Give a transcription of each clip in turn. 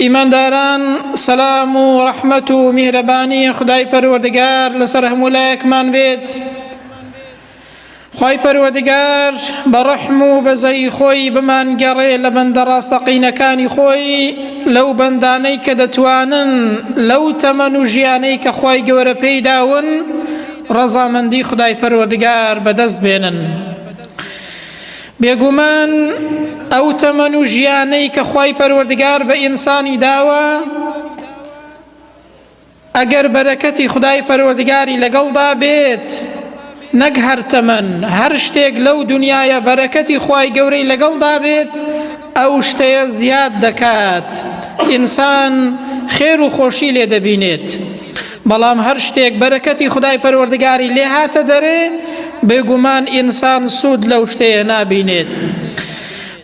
ئیمانداران سەلام و ڕەحمەت و میهرەبانی خدای پەروەردگار لەسەر هەموو لایەکمان بێت خی پەروەدگار بە ڕەحم و بەزەی خۆی بمانگەڕێ لە بەندە ڕاستەقینەکانی خۆی لەو بەندانەی کە دەتوانن لەو تەمەن و ژیانەی کە خی گەورە پێیداون ڕەزامەندی خدای پەروەردگار بەدەست بێنن. بێگومان ئەو تەمەن و ژیانەی کە خوای پەروەردگار بە ئینسانی داوە ئەگەر بەرەکەتی خدای پەروەردگاری لەگەڵدا بێت نەک هەر تەمەن هەر شتێک لەو دنیاە بەرەکەتی خوای گەورەی لەگەڵدا بێت ئەو شتەیە زیاد دەکات ئینسان خێر و خۆشی لێ دەبینێت بەڵام هەر شتێک بەرەکەتی خدای پەروەردگاری لێ هاتە دەرێ بێگومان ئینسان سوود لەو شتەیە نابینێت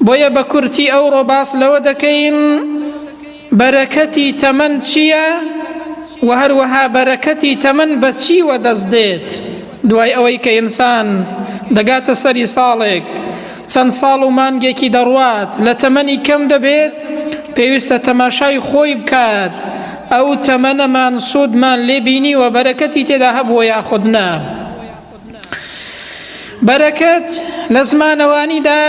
بۆیە بە کورتی ئەو ڕۆباس لەوە دەکەین بەرەکەتی تەمەن چییە و هەروەها بەرەکەتی تەمەن بە چی وەدەست دێت؟ دوای ئەوەی کە ئینسان دەگاتە سەری ساڵێک، چەند ساڵ و مانگێکی دەڕوات لە تەمەنی کەم دەبێت، پێویستە تەماشای خۆی بکات ئەو تەمەنەمان سوودمان لێ بینیوە بەرەکەتی تێدا هەبووە یاخود نا. بەرەکەت لە زمانەوانیدا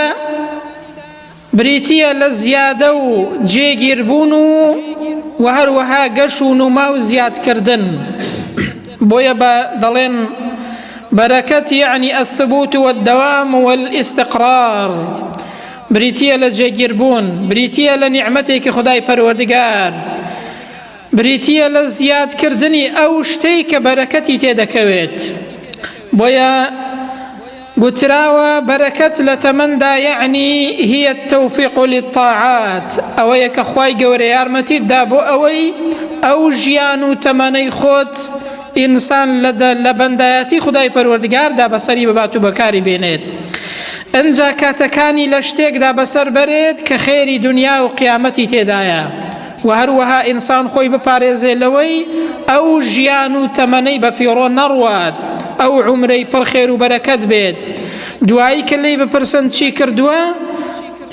بریتییە لە زیادە و جێگیربوون و و هەروەها گەش و نوما و زیادکردن بۆیە بە دەڵێن بەرەکەت یعنی الثبوت والدوام والاستقرار بریتییە لە جێگیربوون بریتییە لە نیعمەتێکی خدای پەروەردگار بریتییە لە زیادکردنی ئەو شتەی کە بەرەکەتی تێدەکەوێت، بۆیە گوتراوە بەرەکەت لە تەمەندا یەعنی هی التوفیق للطاعات، ئەوەیە کە خوای گەورە یارمەتیت دا بۆ ئەوەی ئەو ژیان و تەمەنەی خۆت ئینسان لە بەندایەتی خودای پەروەردگاردا بەسەری ببات و بەکاری بێنێت ئنجا کاتەکانی لە شتێکدا بەسەر بەرێت کە خێری دونیا و قیامەتی تێدایە. وە هەروەها ئینسان خۆی بپارێزێ لەوەی ئەو ژیان و تەمەنەی بە فیڕۆ نەڕوات، ئەو عومرەی پڕ خێر و بەرەکەت بێت، دوایی کە لێی بپرسن چی کردووە؟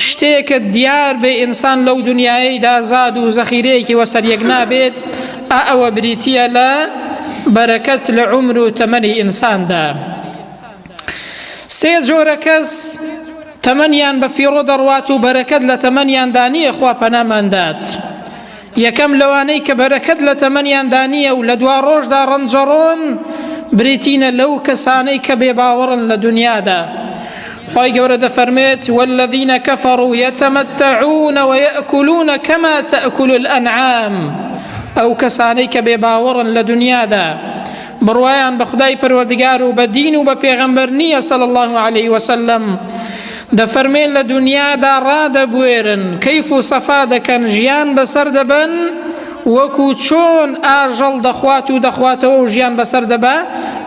شتێکت دیار بێ ئینسان لەو دنیایەیدا زاد و زەخیرەیەکی وەسەریەک نابێت، ئا ئەوە بریتییە لە بەرەکەت لە عومر و تەمەنی ئینساندا. سێ جۆرە کەس تەمەنیان بە فیڕۆ دەڕوات و بەرەکەت لە تەمەنیاندا نییە خوا پەناماندات یەکەم لەوانەی کە بەرەکەت لە تەمەنیاندا نییە و لە دوا ڕۆژدا ڕەنجەڕۆن برێتینە لەو کەسانەی کە بێ باوەڕن لە دنیادا خی گەورە دەفەرمێت والذینە کەفەڕ و یەتەمەتەعونەوە یەکولونە کەما تەکول الأنعام ئەو کەسانەی کە بێ باوەڕن لە دنیادا بڕوایان بە خودای پەروەردگار و بە دین و بە پێغەمبەر نییە صلی اللە علیە وسلم، دەفەرموێن لە دونیادا ڕادەبوێرن، کەیف و سەفا دەکەن، ژیان بەسەر دەبەن، وەکو چۆن ئاژەڵ دەخوات و دەخواتەوە و ژیان بەسەر دەبا،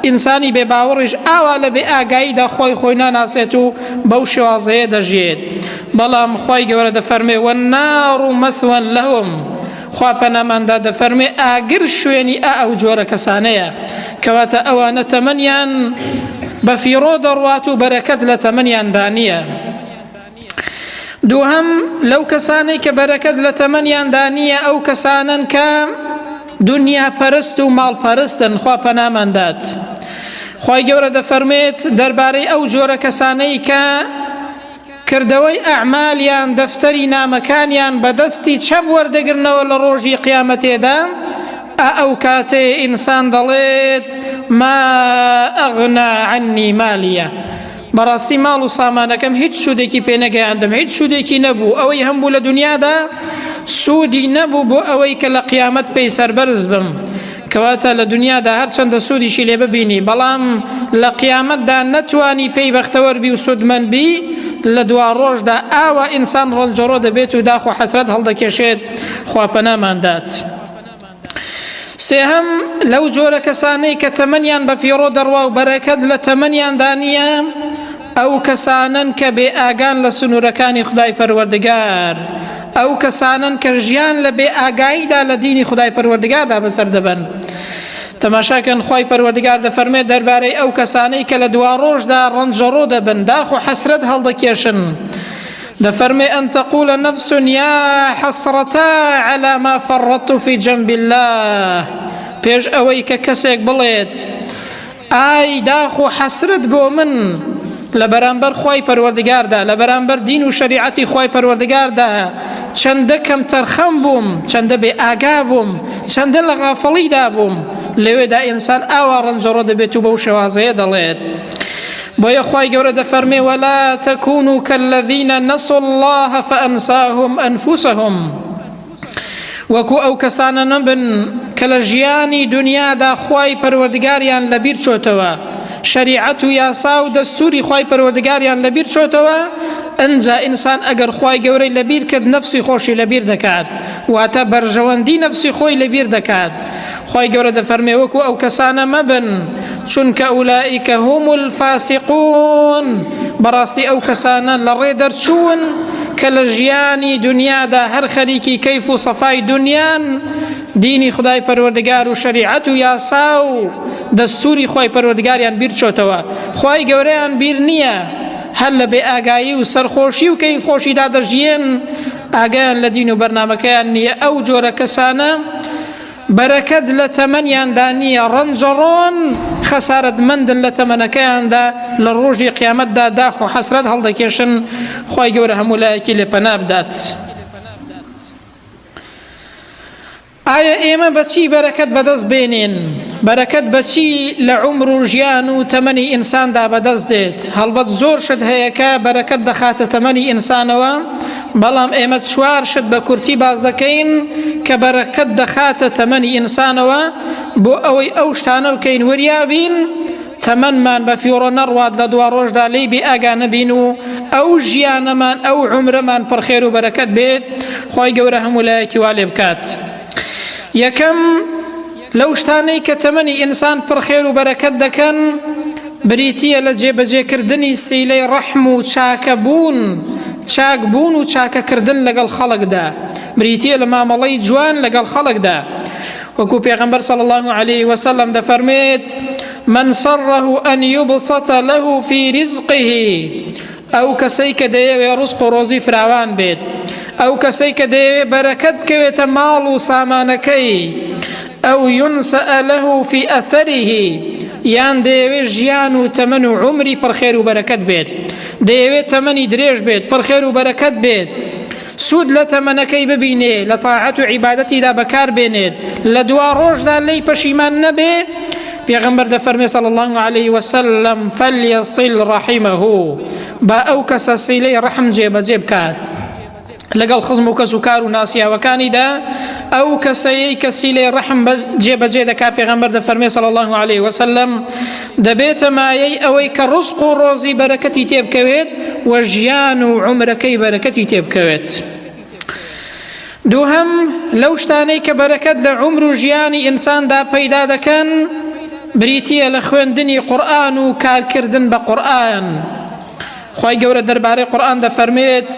ئینسانی بێ باوەڕیش ئاوا لە بێ ئاگاییدا خوای خۆی ناناسێت و بەو شێوازەیە دەژیێت، بەڵام خوای گەورە دەفەرموێ، والنار مثوی لهم، خوا پەنامان دا دەفەرموێ ئاگر شوێنی ئا ئەو جۆرە کەسانەیە کەواتە ئەوانە تەمەنیان بە فیڕۆ دەڕوات و بەرەکەت لە تەمەنیان دانیە دووهم لەو کەسانەی کە بەرەکەت لە تەمەنیان دانیە ئەو کەسانن کە دنیا پەرست و ماڵ پەرستن خوا پەنامان دات خی گەورە دەفەرمێت دەربارەی ئەو جۆرە کەسانەی کە کردەوەی ئەعمال یان دەفتەری نامەکانیان بە دەستی چەپ وەردەگرنەوە لە ڕۆژی قیامەتێدا ئا ئەو کاتەیە ئینسان دەڵێت ما ئەغنا عنی مالیە بەڕاستی ماڵ و سامانەکەم هیچ سوودێکی پێنەگەیاندم هیچ سوودێکی نەبوو ئەوەی هەم بوو لە دنیادا سوودی نەبوو بۆ ئەوەی کە لە قیامەت پێی سەربەرز بم کەواتە لە دونیادا هەرچەندە سوودیشی لێ ببینی بەڵام لە قیامەتدا نەتوانی پێی بەختەوەر بی و سوودمەند بی لە دوا ڕۆژدا ئاوا ئینسان ڕەنجەڕۆ دەبێت و داخ و حەسرەت هەڵدەکێشێت خوا پەنامان دات سێهەم لەو جۆرە کەسانەی کە تەمەنیان بە فیڕۆ دەڕوا و بەرەکەت لە تەمەنیاندا نییە ئەو کەسانەن کە بێ ئاگان لە سنوورەکانی خودای پەروەردگار، ئەو کەسانەن کە ژیان لە بێ ئاگاییدا لە دینی خودای پەروەردگاردا بەسەر دەبەن. تەماشا کەن خوای پەروەردگار دەفەرموێت دەربارەی ئەو کەسانەی کە لە دواڕۆژدا ڕەنجەڕۆ دەبن، داخ و حەسرەت هەڵدەکێشن، دەفەرموێ ان تقول نفس یا حسرتا علی ما فرطت فی جنب اللە، پێش ئەوەی کە کەسێک بڵێت، ئای داخ و حەسرەت بۆ من لە بەرامبەر خوای پەروەردگاردا لە بەرامبەر دین و شەریعەتی خوای پەروەردگاردا چەندە کەم تەرخەم بووم چەندە بێ ئاگا بووم چەندە لە غافڵیدا بووم لەوێدا ئینسان ئاوا ڕەنجەڕۆ دەبێت و بەو شێوازەیە دەڵێت بۆیە خی گەورە دەفەرمێ وەلا تەکون و کەلەڤینە نەسڵ الله فەنساهم ئەنفوسهم وەکو ئەو کەسانە نەبن کە لە ژیانی دنیادا خوای پەروەردگاریان لەبیر چۆتەوە شەریعەت و یاسا و دەستوری خوای پەروەردگاریان لەبیر چۆتەوە ئەنجا ئینسان ئەگەر خوای گەورەی لەبیر کرد نەفسی خۆشی لەبیر دەکات واتە بەرژەوەندی نەفسی خۆی لەبیر دەکات خوای گەورە دەفەرمێ وەکو ئەو کەسانە مەبن چونکە ئولائیکە هم الفاسقون بەڕاستی ئەو کەسانە لە ڕێ دەرچوون کە لە ژیانی دنیادا هەر خەریکی کەیف و سەفای دنیان دینی خدای پەروەردگار و شریعەت و یاسا و دەستوری خی پەروەردگاریان بیر چۆتەوە خی گەورەیان بیر نییە هەر لە بێ ئاگایی و سەرخۆشی و کەیف خۆشیدا دەژیێن ئاگیان لە دین و بەرنمەکەیان نییە ئەو جۆرە کەسانە بەرەکەت لە تەمەنیاندا نییە، ڕەنجەڕۆن، خەسارەتمەندن لە تەمەنەکەیاندا، لە ڕۆژی قیامەتدا داخ و حەسرەت هەڵدەکێشن، خوای گەورە هەموو لایەکی لێ پەنا بدات. ئایا ئێمە بە چی بەرەکەت بەدەست بێنێن؟ بەرەکەت بە چی لە عومر و ژیان و تەمەنی ئینساندا بەدەست دێت؟ هەڵبەت زۆر شت هەیە کە بەرەکەت دەخاتە تەمەنی ئینسانەوە، بەڵام ئێمە چوار شت بە کورتی باس دەکەین کە بەرەکەت دەخاتە تەمەنی ئینسانەوە بۆ ئەوەی ئەو شتانە بکەین وریابین تەمەنمان بە فیڕۆ نەڕوات لە دوا ڕۆژدا لێی بێ ئاگا نەبین و ئەو ژیانەمان ئەو عمرەمان پڕخێر و بەرەکەت بێت خی گەورە هەموو لایەکی وا لێ بکات یەکەم لەو شتانەی کە تەمەنی ئینسان پڕ خێر و بەرەکەت دەکەن بریتییە لە جێبەجێکردنی سیلەی ڕەحم و چاکەبوون، چاکبوون و چاکەکردن لەگەڵ خەڵکدا، بریتییە لە مامەڵەی جوان لەگەڵ خەڵکدا. وەکو پێغەمبەر صلی الله علیه وسلم دەفەرمێت من سره ان یبسط له فی رزقه ئەو کەسەی کە دەیەوێ ڕزق و ڕۆزی فراوان بێت ئەو کەسەی کە دەیەوێ بەرەکەت بکەوێتە ماڵ و سامانەکەی ئەو یونسەلەه فی ئەثەریهی یان دەیەوێ ژیان و تەمەن و عمری پڕخێر و بەرەکەت بێت دەیەوێت تەمەنی درێژ بێت پڕخێر و بەرەکەت بێت سود لە تەمەنەکەی ببینێ لە تاعەت و عیبادەتیدا بەکار بێنێت لە دوا ڕۆژدا لێی پەشیمان نەبێ پێغمبەر دەفەرمێ صلی الله علیه وسلم فلیصل رحمه با ئەو کەسە سیلەی ڕحم جێبەجێ بکات لەگەڵ خزم و کەس و کار و ناسیاوەکانیدا ئەو کەسەیەی کەسی لێ ڕەحم جێبەجێ دەکا پێغەمبەر دەفەرمێ صلی الله عليه وسلم دەبێتە مایەی ئەوەی کە ڕزق و ڕۆزی بەرەکەتی تێبکەوێت و ژیان و عومرەکەی بەرەکەتی تێبکەوێت دووهەم لەو شتانەی کە بەرەکەت لە عومر و ژیانی ئینساندا پەیدا دەکەن بریتە لە خوێندنی قورآن و کارکردن بە قورآن خی گەورە دەربارەی قورآن دەفەرمێت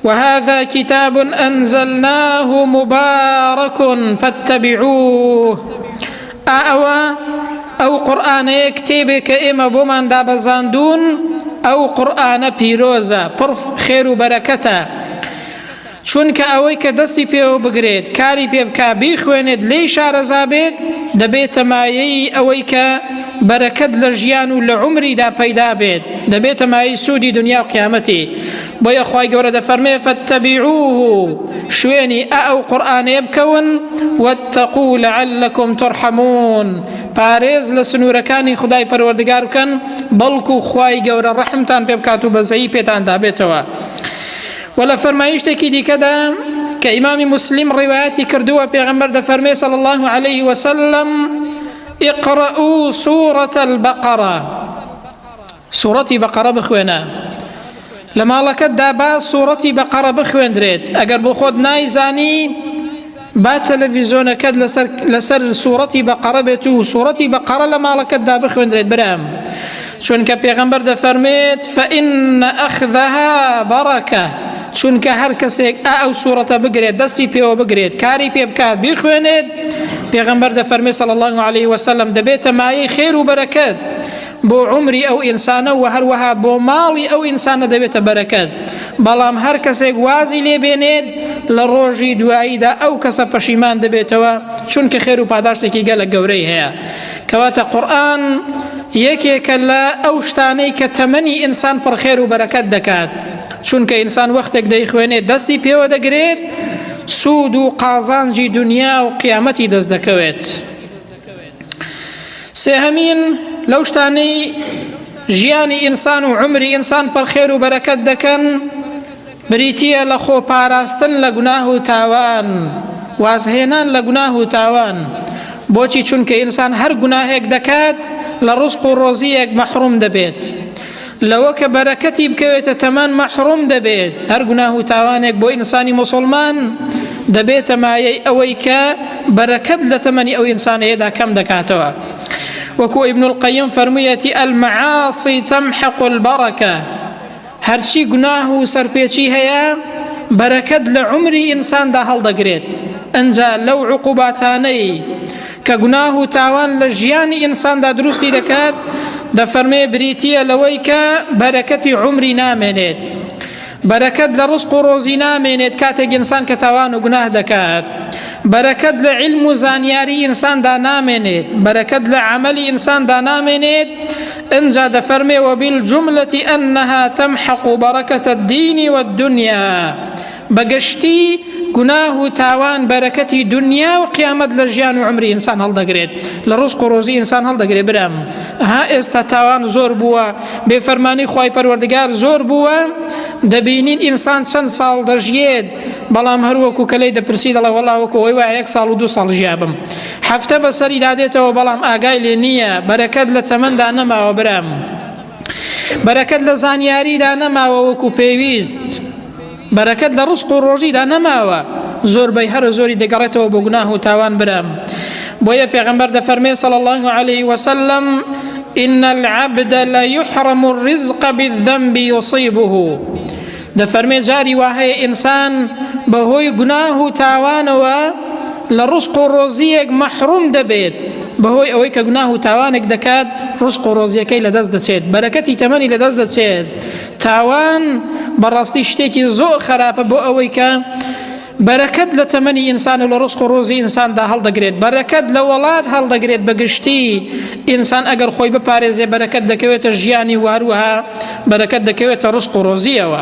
وهذا کتاب انزلناه مبارک فاتبعوه ئا ئەوە ئەو قورآانەیە کتێبێک کە ئێمە بۆمان دابەزاندون ئەو قورآانە پیرۆزە پڕ خێر و بەرەکەتە چونکە ئەوەی کە دەستی پێوە بگرێت کاری پێ بک بیخوێنێت لی شارەزا بێت دەبێتە مایەی ئەوەی کە بەرەکەت لە ژیان و لە عمریدا پەیدا بێت دەبێتە مای سوودی دنیا و قیامەتی بۆیە خوای گەورە دەفەرمێ فاتبعوه شوێنی ئە ئەو قورئانەیە بکەون واتقوا لعلکم ترحمون پارێز لە سنوورەکانی خدای پەروەردگار بکەن بەڵکو خوای گەورە ڕەحمتان پێ بکات و بەزەیی پێتان دابێتەوە و لە فەرمایشتێکی دیکەدا کە ئیمامی مسلیم ڕیواەتی کردووە پێغمبەر دەفەرمێ صلی الله عليه وسلم اقرأوا سورة البقرة سوڕەتی بەقەڕە بخوێنە لە ماڵەکەتدا با سوڕەتی بەقەڕە بخوێندرێت ئەگەر بۆ خۆت نایزانی با تەلەڤیزۆنەکەت لەسەر لەسەر سوڕەتی بەقەڕە بێت و سوڕەتی بەقەڕە لە ماڵەکەتدا بخوێندرێت برام چونکە پێغەمبەر دەفەرمێت فەئین ئەخذەها بەڕەکە چونکە هەر کەسێک ئا ئەو سوورەتە بگرێت دەستی پێوە بگرێت کاری پێ بکات بیخوێنێت پێغەمبەر دەفەرمێ سەڵ الله عليه وسلم دەبێتە مایەی خێر و بەرەکەت بۆ عومری ئەو ئینسانە و هەروەها بۆ ماڵی ئەو ئینسانە دەبێتە بەرەکەت بەڵام هەر کەسێک وازی لێبێنێت لە ڕۆژی دواییدا ئەو کەسە پەشیمان دەبێتەوە چونکە خێر و پاداشتێکی گەلە گەورەی هەیە کەواتە قورآن یەکێکە لە ئەو شتانەی کە تەمەنی ئینسان پڕخێر و بەرەکەت دەکات چونکە ئینسان وەختێک دەیخوێنێت دەستی پێوە دەگرێت سوود و قازانجی دنیا و قیامەتی دەست دەکەوێت. سێهەمین لەو شتانەی ژیانی ئینسان و عمری ئینسان پڕخێر و بەرەکەت دەکەن بریتە لە خۆ پاراستن لە گوناه و تاوان وازهێنان لە گوناه و تاوان بۆچی چونکە ئینسان هەر گوناهێک دەکات لە ڕسق و ڕۆزیەک مەحروم دەبێت لەوە کە بەرەکەتی بکەوێتە تەمان مەحروم دەبێت هەر گوناه و تاوانێک بۆ ئینسانی مسلمان دەبێتە مایەی ئەوەی کە بەرەکەت لە تەمەنی ئەو ئینسانەیەدا کەم دەکاتەوە وەکو ئیبن القیم فەرموویەتی المعاصی تمحق البرکە هەرچی گوناه و سەرپێچی هەیە بەرەکەت لە عمری ئینساندا هەڵدەگرێت ئەجا لەو عقوباتانەی کە گوناه و تاوان لە ژیانی ئینساندا دروستی دەکات دەفەرمێ بریتییە لەوەی کە بەرەکەتی عومری نامێنێت بەرەکەت لە ڕزق و ڕۆزی نامێنێت کاتێک ئینسان کە تاوان و گوناه دەکات بەرەکەت لە علم و زانیاری ئینساندا نامێنێت بەرەکەت لە عملی ئینساندا نامێنێت انجا دەفەرمێ وەبیل جملەتی ئەنها تەمحق و بەڕەکەتە دینی وە دنیا بە گشتی گوناه و تاوان بەرەکەتی دونیا و قیامەت لە ژیان و عمری ئینسان هەڵدەگرێت لە ڕزق و ڕۆزی ئینسان هەڵدەگرێت برام ها ئێستا تاوان زۆر بووە بێفەرمانی خوای پەروەردگار زۆر بووە دەبینین ئینسان چەند ساڵ دەژیێت بەڵام هەروەکو کە لی دەپرسی دەڵێ وەڵا وەکو ئەوەی وایە یەک ساڵ و دو ساڵ ژیابم هەفتە بەسەری دادێتەوە بەڵام ئاگای لێ نییە بەرەکەت لە تەمەندا نەماوە برام بەرەکەت لە زانیاریدا نەماوە وەکو پێویست بەرەکەت لە ڕزق و ڕۆژیدا نەماوە زۆر بەی هەرە زۆری دەگەڕێتەوە بۆ گوناه و تاوان برام بۆیە پێغەمبەر دەفەرمێ صلی الله علیه وسلم إن العبد ليحرم الرزق بالذنب يصيبه دەفەرمێ جاری واهەیە ئینسان بەهۆی گوناه و تاوانەوە لە ڕزق و ڕۆزیەک مەحروم دەبێت بەهۆی ئەوەی کە گوناه و تاوانێک دەکات ڕزق و ڕۆزیەکەی لەدەست دەچێت بەرەکەتی تەمەنی لەدەست دەچێت تاوان بەڕاستی شتێکی زۆر خەراپە بۆ ئەوەی کە بەرەکەت لە تەمەنی ئینسان و لە ڕسق و ڕۆزی ئینساندا هەڵدەگرێت بەرەکەت لە وەڵات هەڵدەگرێت بەگشتی ئینسان ئەگەر خۆی بپارێزێ بەرەکەت دەکەوێتە ژیانی و هەروەها بەرەکەت دەکەوێتە ڕسق و ڕۆزیەوە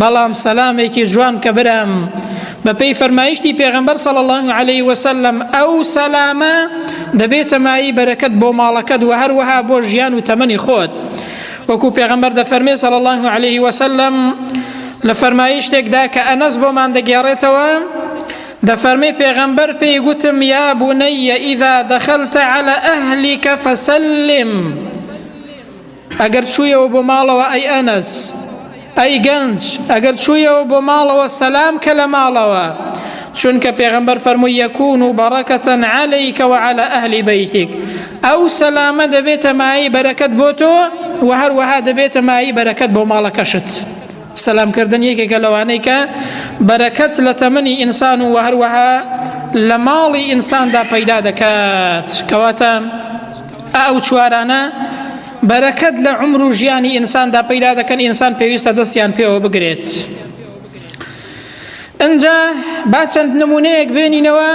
بەڵام سەلامێکی جوان کە برام بەپێی فەرمایشتی پێغەمبەر صلی الله علیه وسلم ئەو سەلامە دەبێتە مایی بەرەکەت بۆ ماڵەکەت و هەروەها بۆ ژیان و تەمەنی خۆت وەکو پێغەمبەر دەفەرمێ صلی الله علیه وسلم لە فەرمایشتێکدا کە ئەنەس بۆمان دەگێڕێتەوە دەفەرمێ پێغەمبەر پێی گوتم یا بنەیە ئیدا دەخەلتە على ئەهلیکە فەسلم ئەگەر چوویەوە بۆ ماڵەوە ئەی ئەنەس ئەی گەنج ئەگەر چوویەوە بۆ ماڵەوە سەلام کە لە ماڵەوە چونکە پێغەمبەر فەرمووی یەکون و بەڕەکەتەن عەلەیکەوە عەلە ئەهلی بەیتیک ئەو سەلامە دەبێتە مایی بەرەکەت بۆ تۆ و هەروەها دەبێتە مایی بەرەکەت بۆ ماڵەکەشت سەلامکردن یەکێکە لەوانەی کە بەرەکەت لە تەمەنی ئینسان و هەروەها لە ماڵی ئینساندا پەیدا دەکات کەواتە ئەو چوارانە بەرەکەت لە عمر و ژیانی ئینساندا پەیدا دەکەن ئینسان پێویستە دەستیان پێوە بگرێت ئەجا با چەند نمونەیەک بێنینەوە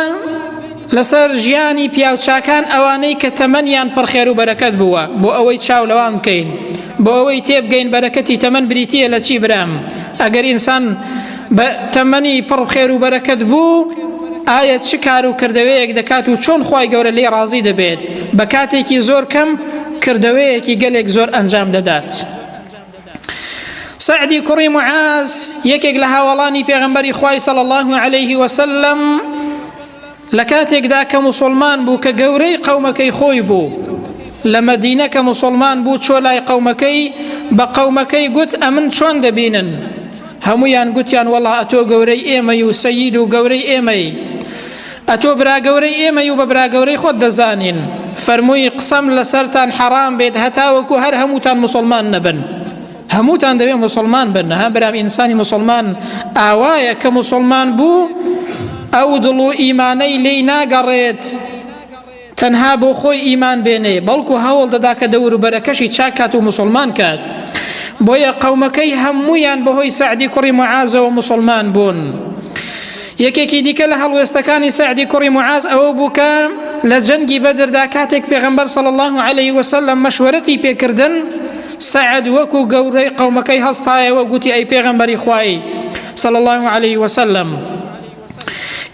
لەسەر ژیانی پیاوچاکان ئەوانەی کە تەمەنیان پڕخێر و بەرەکەت بووە بۆ ئەوەی چاو لەوان بکەین بۆ ئەوەی تێبگەین بەرەکەتی تەمەەن بریتە لە چی برام ئەگەر ئینسان بە تەمەنی پڕ خێر و بەرەکەت بوو ئایا چ کار و کردەوەیەک دەکات و چۆن خی گەورە لێ ڕازی دەبێت بە کاتێکی زۆر کەم کردەوەیەکی گەلێک زۆر ئەنجام دەدات سعدی کوڕی معاز یەکێک لە هاوڵانی پێغمبەری خی سەڵ الله عليه وسلم لە کاتێکدا کە موسڵمان بوو کە گەورەی قەومەکەی خۆی بوو لە مەدینە کە موسڵمان بوو چۆ لای قەومەکەی بە قەومەکەی گوت ئەمن چۆن دەبینن هەمویان گوتیان وەڵا ئەتۆ گەورەی ئێمەی و سەید و گەورەی ئێمەی ئەتۆ براگەورەی ئێمە و بە براگەورەی خۆت دەزانین فەرمووی قسەم لەسەرتان حەرام بێت هەتاوەکو هەر هەمووتان مسلمان نەبن هەمووتان دەبێ موسڵمان بن ها برام ئینسانی موسڵمان ئاوایە کە موسڵمان بوو ئەو دڵ و ئیمانەی لێی ناگەڕێت تەنها بۆ خۆی ئیمان بێنێ بەڵکو هەوڵ دەدا کە دەوروبەرەکەشی چاکات و مسلمان کات بۆیە قەومەکەی هەمویان بەهۆی سعدی کوڕی معازەوە مسلمان بوون یەکێکی دیکە لە هەڵوێستەکانی سعدی کوڕی معاز ئەوە بوو کە لە جەنگی بەدردا کاتێک پێغەمبەر صلی الله عليه وسلم مەشوەرەتی پێکردن سەعد وەکو گەورەی قەومەکەی هەستایەوە گوتی ئەی پێغەمبەری خوایی صلی الله علیه وسلم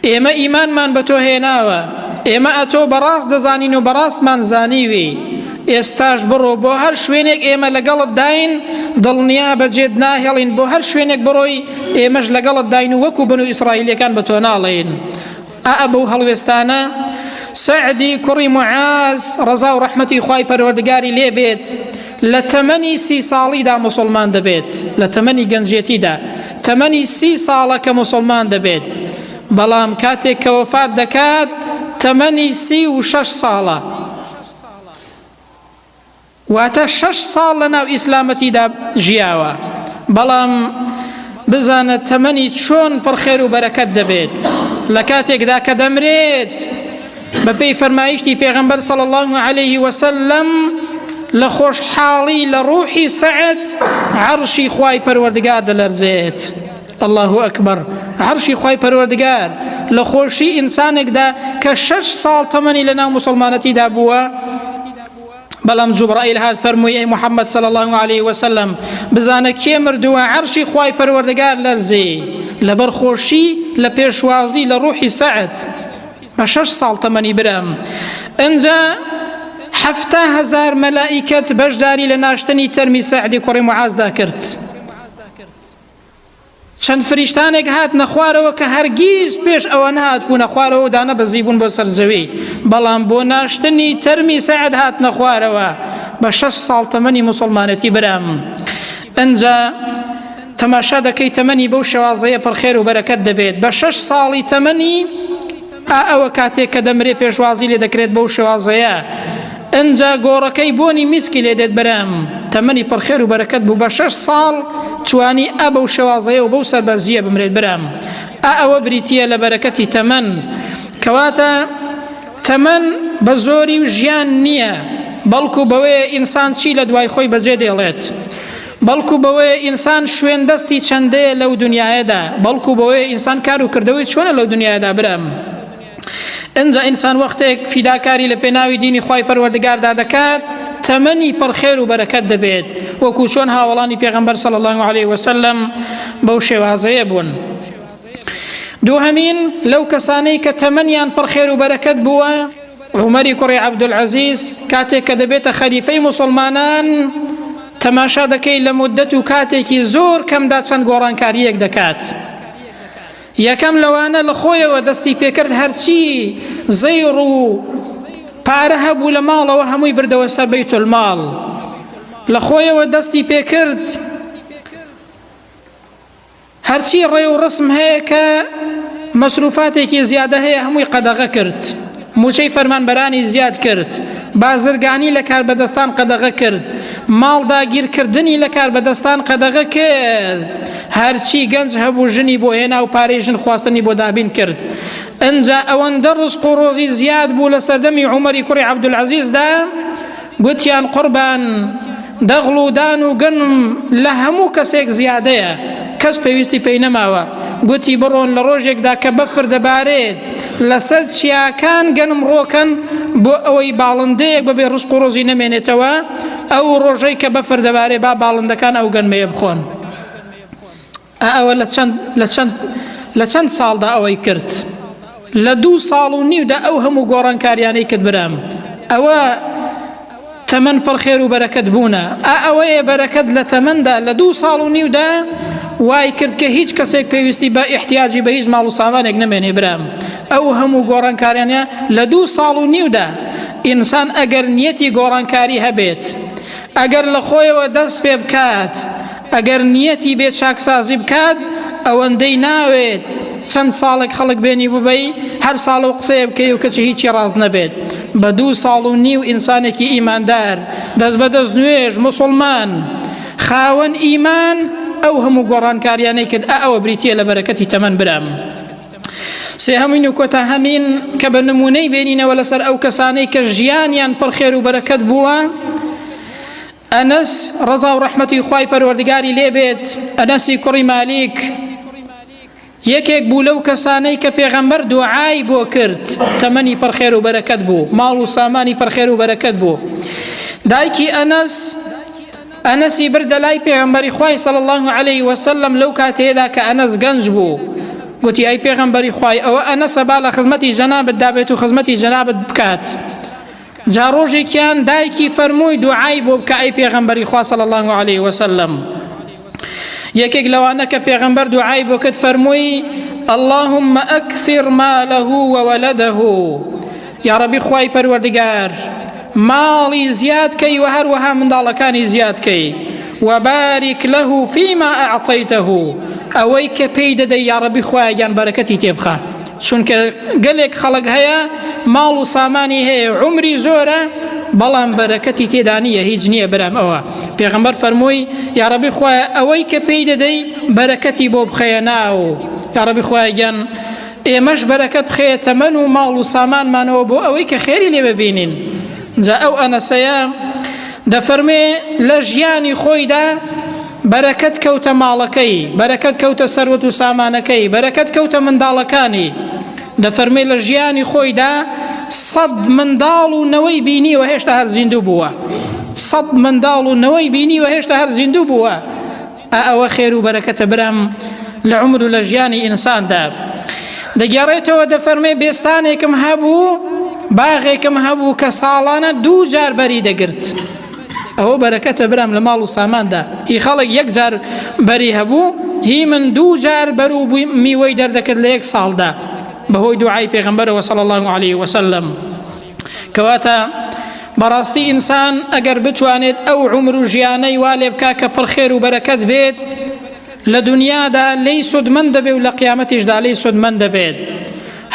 ئێمە ئیمانمان بە تۆ هێناوە ئێمە ئەتۆ بەڕاست دەزانین و بەڕاستمان زانیوی ئێستاش بڕۆ بۆ هەر شوێنێک ئێمە لەگەڵت داین دڵنیا بەجێت ناهێڵین بۆ هەر شوێنێک بڕۆی ئێمەش لەگەڵت داین و وەکو بن و ئیسرائیلەکان بە تۆ ناڵێین ئائ بەو هەڵوێستانە سەعدی کوڕی معاز ڕەزا و ڕەحمەتی خوای پەروەردگاری لێ بێت لە تەمەنی سی ساڵیدا مسلمان دەبێت لە تەمەنی گەنجێتیدا تەمەنی سی ساڵە کە مسلمان دەبێت بەڵام کاتێک کە وەفات دەکات تەمەنی سی و شەش ساڵە واتە شەش ساڵ لە ناو ئیسلامەتیدا ژیاوە بەڵام بزانە تەمەنی چۆن پڕ خێر و بەرەکەت دەبێت لە کاتێکدا کە دەمرێت بەپێی فەرمایشتی پێغەمبەر صلی الله عليه وسلم لە خۆشحاڵی لە ڕوحی سەعد عەرشی خوای پەروەردگار دەلەرزێت الله ئەکبەر عەرشی خوای پەروەردگار لە خۆشی ئینسانێکدا کە شەش ساڵ تەمەنی لە ناو مسلمانەتیدا بووە بەڵام جوبڕائیل هات فەرمووی ئەی محەممەد صلی اللە علیه وسلم بزانە کێ مردووە عەرشی خوای پەروەردگار لەرزی لەبەر خۆشی لە پێشوازی لە ڕوحی سەعد بە شەش ساڵ تەمەنی برام ئەجا حەفتا هزار مەلائیکەت بەشداری لە ناشتنی تەرمی سەعدی کوڕی معازدا کرد چەند فریشتانێک هاتنە خوارەوە کە هەرگیز پێش ئەوە نهاتبوونە خوارەوە و دانەبەزی بوون بۆ سەر زەوی بەڵام بۆ ناشتنی تەرمی سەعد هاتنە خوارەوە بە شەش ساڵ تەمەنی مسلمانەتی برام ئەنجا تەماشا دەکەی تەمەنی بەو شێوازەیە پڕخێر و بەرەکەت دەبێت بە شەش ساڵی تەمەنی ئا ئەوە کاتێک کە دەمرێ پێشوازی لێ دەکرێت بەو شێوازەیە ئەنجا گۆڕەکەی بۆنی میسکی لێ دێت برام تەمەنی پڕخێر و بەرەکەت بوو بە شەش ساڵ توانی ئە بەو شێوازەیە و بەو سەربەرزیە بمرێت برام ئا ئەوە بریتە لە بەرەکەتی تەمەن کەواتە تەمەن بە زۆری و ژیان نییە بەڵکو بەوەیە ئینسان چی لە دوای خۆی بەجێ دێڵێت بەڵکو بەوەیە ئینسان شوێن دەستی چەندەیە لەو دنیاەدا بەڵکو بەوەیە ئینسان کار و کردەوەی چۆنە لەو دنیادا برام ئەجا ئینسان وەختێک فیداکاری لە پێناوی دینی خی پەروەردگاردا دەکات تەمەنی پڕخێر و بەرەکەت دەبێت وەکو چۆن هاوڵانی پێغمبەر سەڵ الله عليه وسلم بەو شێوازەیە بوون. دووهەمین لەو کەسانەی کە تەمەنیان پڕ خێر و بەرەکەت بووە عومەری کوڕی عەبدولعەزیز کاتێک کە دەبێتە خەلیفەی موسڵمانان تەماشا دەکەی لە مدەت و کاتێکی زۆر کەمدا چەند گۆڕانکاریەک دەکات یەکەم لەوانە لە خۆیەوە دەستی پێکرد هەرچی زەیڕ و پارە هەبوو لە ماڵەوە هەمووی بردەوە سەر بیت الماڵ لە خۆیەوە دەستی پێکرد هەرچی ڕێ و ڕەسم هەیە کە مەسروفاتێکی زیادە هەیە هەمووی قەدەغە کرد موچەی فەرمانبەرانی زیاد کرد بازرگانی لە کاربەدەستان قەدەغە کرد ماڵ داگیرکردنی لە کاربەدەستان قەدەغە کرد هەرچی گەنج هەبوو ژنی بۆ هێنا و پارەی ژن خواستنی بۆ دابین کرد ئەجا ئەوەندە ڕزق و ڕۆزی زیاد بوو لە سەردەمی عومەری کوڕی عەبدولعەزیزدا گوتیان قوربان دەغڵ و دان و گەنم لە هەموو کەسێک زیادەیە، کەس پێویستی پێی نەماوە، گوتی بڕۆن لە ڕۆژێکدا کە بەفر دەبارێت لەسەر چیاکان گەنم ڕۆکەن بۆ ئەوەی باڵندەیەک بەبێ ڕزق و ڕۆزی نەمێنێتەوە، ئەو ڕۆژەی کە بەفر دەبارێت با باڵندەکان ئەو گەنمەیە بخۆن. ئا ئەوە لە چەند لە چەند لە چەند ساڵدا ئەوەی کرد لە دوو ساڵ و نیودا ئەو هەموو گۆڕانکاریانەی کرد برام ئەوە تەمەن پڕ خێر و بەرەکەت بوونە ئا ئەوەیە بەرەکەت لە تەمەندا لە دوو ساڵ و نیودا وای کرد کە هیچ کەسێک پێویستی بە ئیحتیاجی بە هیچ ماڵ و سامانێک نەمێنێ برام ئەو هەموو گۆڕانکاریانە لە دوو ساڵ و نیودا ئینسان ئەگەر نیەتی گۆڕانکاری هەبێت ئەگەر لە خۆیەوە دەست پێ بکات، ئەگەر نیەتی بێ چاکسازی بکات، ئەوەندەی ناوێت چەند ساڵێک خەڵک بێنیڤبەی هەر ساڵە و قسەیە بکەی و کەچی هیچی ڕاست نەبێت، بە دوو ساڵ و نیو ئینسانێکی ئیماندار، دەست بە دەست نوێژ، موسڵمان، خاوەن ئیمان، ئەو هەموو گۆڕانکاریانەی کرد، ئا ئەوە بریتیە لە بەرەکەتی تەمەن برام. سێهەمین و کۆتاهەمین کە بە نمونەی بێنینەوە لەسەر ئەو کەسانەی کە ژیانیان پڕ خێر و بەرەکەت بووە ئەنەس ڕەزا و ڕەحمەتی خوای پەروەردگاری لێبێت ئەنەسی کوڕی مالیک یەکێک بوو لەو کەسانەی کە پێغەمبەر دوعای بۆ کرد تەمەنی پڕخێر و بەرەکەت بوو ماڵ و سامانی پڕخێر و بەرەکەت بوو دایکی ئەنەس ئەنەسی بردە لای پێغەمبەری خوای صلی الله علیه وسلم لەو کاتەیەدا کە ئەنەس گەنج بوو گوتی ئەی پێغەمبەری خوای ئەوە ئەنەسە با لە خزمەتی جەنابت دابێت و خزمەتی جەنابت بکات جا ڕۆژێکیان دایکی فەرمووی دوعای بۆ بکە ئەی پێغەمبەری خوا صلی الله علیه وسلم یەکێک لەوانە کە پێغەمبەر دوعای بۆ کرد فەرمووی اللهم أكثر ماله وولده یاڕەبی خوای پەروەردگار ماڵی زیاد کەی و هەروەها منداڵەکانی زیاد کەی وبارك له فيما أعطيته ئەوەی کە پێی دەدەی یاڕەبی خوایەگیان بەرەکەتی تێبخە چونکە گەلێک خەڵک هەیە ماڵ و سامانی هەیە عمری زۆرە بەڵام بەرەکەتی تێدانە هیچ نییە برام ئەوە پێغمبەر فەرمووی یاڕەبی خوایە ئەوەی کە پێی دەدەی بەرەکەتی بۆ بخەیە ناو یاڕەبی خوایەگیان ئێمەش بەرەکەت بخەیە تەمەن و ماڵ و سامانمانەوە بۆ ئەوەی کە خێری لێ ببینین جا ئەو ئەنەسەیە دەفەرمێ لە ژیانی خۆیدا بەرەکەت کەوتە ماڵەکەی بەرەکەت کەوتە سەروەت و سامانەکەی بەرەکەت کەوتە منداڵەکانی دەفەرمێ لە ژیانی خۆیدا سەد منداڵ و نەوەی بینیوە هێشتا هەر زیندوو بووە سەد منداڵ و نەوەی بینیوە هێشتا هەر زیندوو بووە ئا ئەوە خێر و بەرەکەتە برام لە عومر و لە ژیانی ئینساندا دەگێڕێتەوە دەفەرمێ بێستانێکم هەبوو باغێکم هەبوو کە ساڵانە دوو جار بەری دەگرت ئەوە بەرەکەتە برام لە ماڵ و ساماندا هی خەڵک یەک جار بەری هەبوو هی من دوو جار بەر و بووی میوەی دەردەکرد لە یەک ساڵدا بەهۆی دوعای پێغمبەرەوە صلی الله عليه وسلم کەواتە بەڕاستی ئینسان ئەگەر بتوانێت ئەو عمر و ژیانەی وا لێ بکا کە پڕخێر و بەرەکەت بێت لە دنیادا لێی سودمەند دەبێت و لە قیامەتیشدا لێی سودمەند دەبێت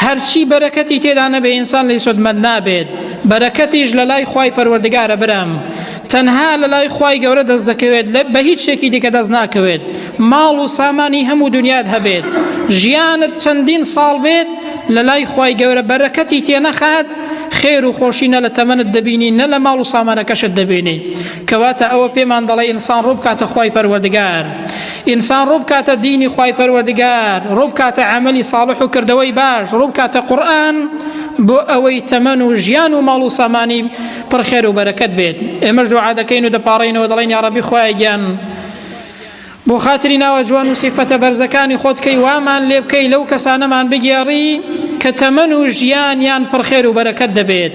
هەرچی بەرەکەتی تێدا نەبێ ئینسان لێی سودمەند نابێت بەرەکەتیش لە لای خی پەروەردگارە برام تەنها لە لای خی گەورە دەست دەکەوێت لە بە هیچ شتێکی دیکە دەست ناکەوێت ماڵ و سامانی هەموو دونیات هەبێت ژیانت چەندین ساڵ بێت لەلای خوای گەورە بەرەکەتی تێنەخات خێر و خۆشی نە لە تەمەنت دەبینی نە لە ماڵ و سامانەکەشت دەبێنێ کەواتە ئەوە پێمان دەڵێ ئینسان ڕووبکاتە خوای پەروەردگار ئینسان ڕووبکاتە دینی خوای پەروەردگار ڕووبکاتە عملی ساڵح و کردەوەی باش ڕووبکاتە قورآن بۆ ئەوەی تەمەن و ژیان و ماڵ و سامانی پڕخێر و بەرەکەت بێت ئێمەش دوعا دەکەین و دەپاڕینەوە دەڵێن یاڕەبی خوایە گیان بۆ خاتری ناوە جوان و سیفەتە بەرزەکانی خۆت کەی وامان لێ بکەی لەو کەسانەمان بگێڕی کە تەمەن و ژیانیان پڕخێر و بەرەکەت دەبێت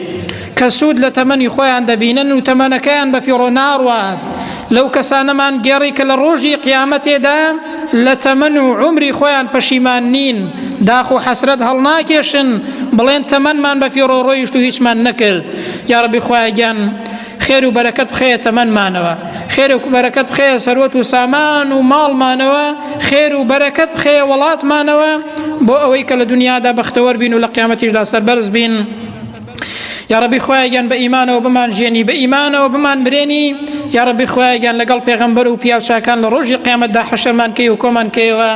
کە سوود لە تەمەنی خۆیان دەبینن و تەمەنەکەیان بە فیڕۆ ناڕوات لەو کەسانەمان گێڕی کە لە ڕۆژی قیامەتێدا لە تەمەن و عمری خۆیان پەشیمان نین داخ و حەسرەت هەڵناکێشن بڵێن تەمەنمان بە فیڕۆ ڕۆیشت و هیچمان نەکرد یاڕبی خۆیان خێر و بەرەکەت بخەیە تەمەنمانەوە خێر و بەرەکەت بخەیە سەروەت و سامان و ماڵمانەوە خێر و بەرەکەت بخەیە وڵاتمانەوە بۆ ئەوەی کە لە دنیادا بەختەوەر بین و لە قیامەتیشدا سەربەرز بین. یا ڕبی خۆیان بە ئیمانەوە بمان ژێنی بە ئیمانەوە بمان برێنی یا ڕبی خۆیان لەگەڵ پێغەمبەر و پیاوچکان لە ڕۆژی قیامەتدا حەشەمان کەی و کۆمان کەیەوە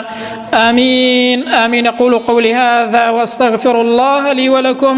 ئامین ئامین قول و قولی هذا واستغفر الله لي ولكم